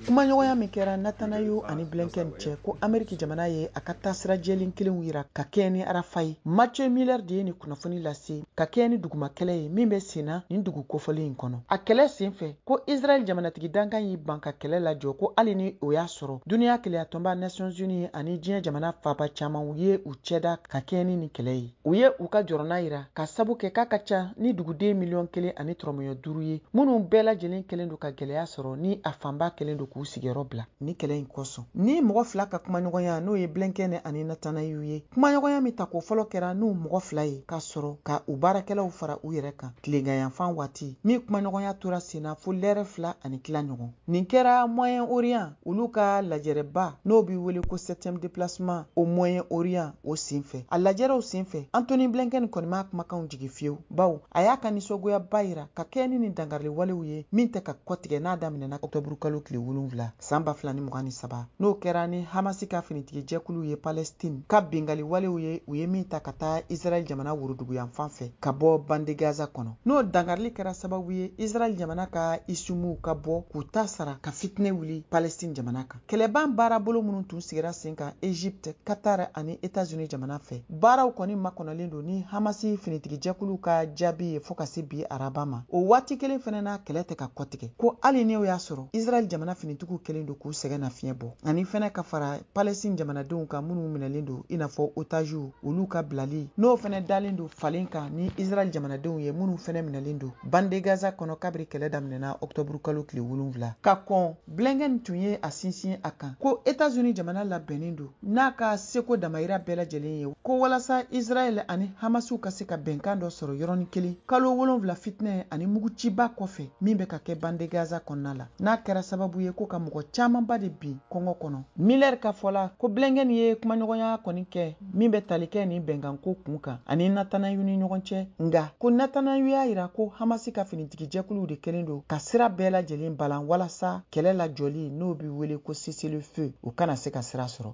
kumaɲɔgɔnya min kɛra netanyahu ani blinken cɛ ko ameriki jamana ye a ka taasira jɛlen kelenw yira ka kɛɲɛ ni arafa ye mathieu miller de ye nin kunnafoni lase ka kɛɲɛ ni duguma kɛlɛ ye min bɛ sen na nin dugu kofɔlen in kɔnɔ a kɛlɛ sen fɛ ko israɛl jamanatigi dankan y'i ban ka kɛlɛ lajɔ ko hali ni o y'a sɔrɔ duniɲa kelenyatɔnba nations unies ani diɲɛ jamana fanba caaman u ye u cɛda ka kɛɲɛ ni nin kɛlɛ ye u ye u ka jɔrɔna yira k'a sabu kɛ k'a ka ca ni duguden miliyɔn kelen ani tɔrɔmɔɲɔ duuru ye minnu bɛɛ lajɛlen kɛlen don ka gɛlɛya sɔrɔ ni a fanba kɛlen don k'u sigiyɔrɔ bila nin kɛlɛ in kosɔn nin mɔgɔ fila ka kumaɲɔgɔnya n'o ye blinken ani netanyahu ye kumaɲɔgɔnya min tako fɔlɔ kɛra n'u mɔgɔ fila ye ka sɔrɔ ka u baarakɛlaw fara u yɛrɛ kan tileganyanfan waati min kumaɲɔgɔnya tora senna fo lɛrɛ fila ani tila ɲɔgɔn Nin kɛra Moyen Orient olu ka lajɛrɛba n'o bɛ wele ko septième déplacement au Moyen Orient o senfɛ. A lajɛrɛw senfɛ, Antony Blinken kɔni m'a kumakanw jigin fiyewu, bawo a y'a ka nisɔngoyaba yira ka kɛɲɛ ni nin dankariliwalew ye min tɛ ka kɔtigɛ n'a daminɛna ɔkutɔburukalo tile wolonfila san ba fila ni mugan ni saba n'o kɛra ni Hamasi ka finitigijɛkulu ye Palestine ka bingaliwalew ye u ye min ta ka taa Israel jamana woroduguyanfan fɛ ka bɔ Bande Gaza kɔnɔ. n'o dankarili kɛra sababu ye israɛl jamana ka isimuw ka bɔ k'u ta sara ka fitinɛ wuli palestine jamana kan kɛlɛban baarabolo minnu tun sigira sen kan egypte qatar ani etats-unis jamana fɛ baaraw kɔni makɔnɔlen don ni hamasi finitigijɛkulu ka jaabi ye fo ka se bi araba ma o waati kelen fɛnɛ na kɛlɛ tɛ ka kɔtigɛ ko hali n'o y'a sɔrɔ israɛl jamana finitigiw kɛlen don k'u sɛgɛnnafiɲɛ bɔ ani fɛnɛ ka fara palestine jamanadenw kan minnu minɛlen don i n'a fɔ otaziw olu ka bilali n'o fɛnɛ dalen don falen kan ni israɛl jamanadenw ye minnu fɛnɛ minɛlen don bande gaza kɔnɔ kabiri kɛlɛ daminɛna ɔktɔburu kalo tile wolonfila ka kɔn blinken tun ye a sinsin a kan ko etazuni jamana labɛnnen don n'a ka seko damayira bɛɛ lajɛlen ye ko walasa israɛl ani hamasiw ka se ka bɛnkan dɔ sɔrɔ yɔrɔnin kelen kalo wolonfila fitinɛ ani muguciba kɔfɛ min bɛ ka kɛ bande gaza kɔnɔna la n'a kɛra sababu ye ko ka mɔgɔ caamanba de bin kɔngɔ kɔnɔ miller ka fɔ la ko blinken ye kumaɲɔgɔnya kɔni kɛ min bɛ tali kɛ ni bɛnkanko kun kan ani netanyahu ni ɲɔgɔn cɛ nga ko netanyahu y'a yira ko hamasi ka finitigijɛkuluw de kɛlen don ka sira bɛɛ lajɛlen balan walasa kɛlɛ lajɔli n'o bɛ wele ko cessez-le-feu o kana se ka sira sɔrɔ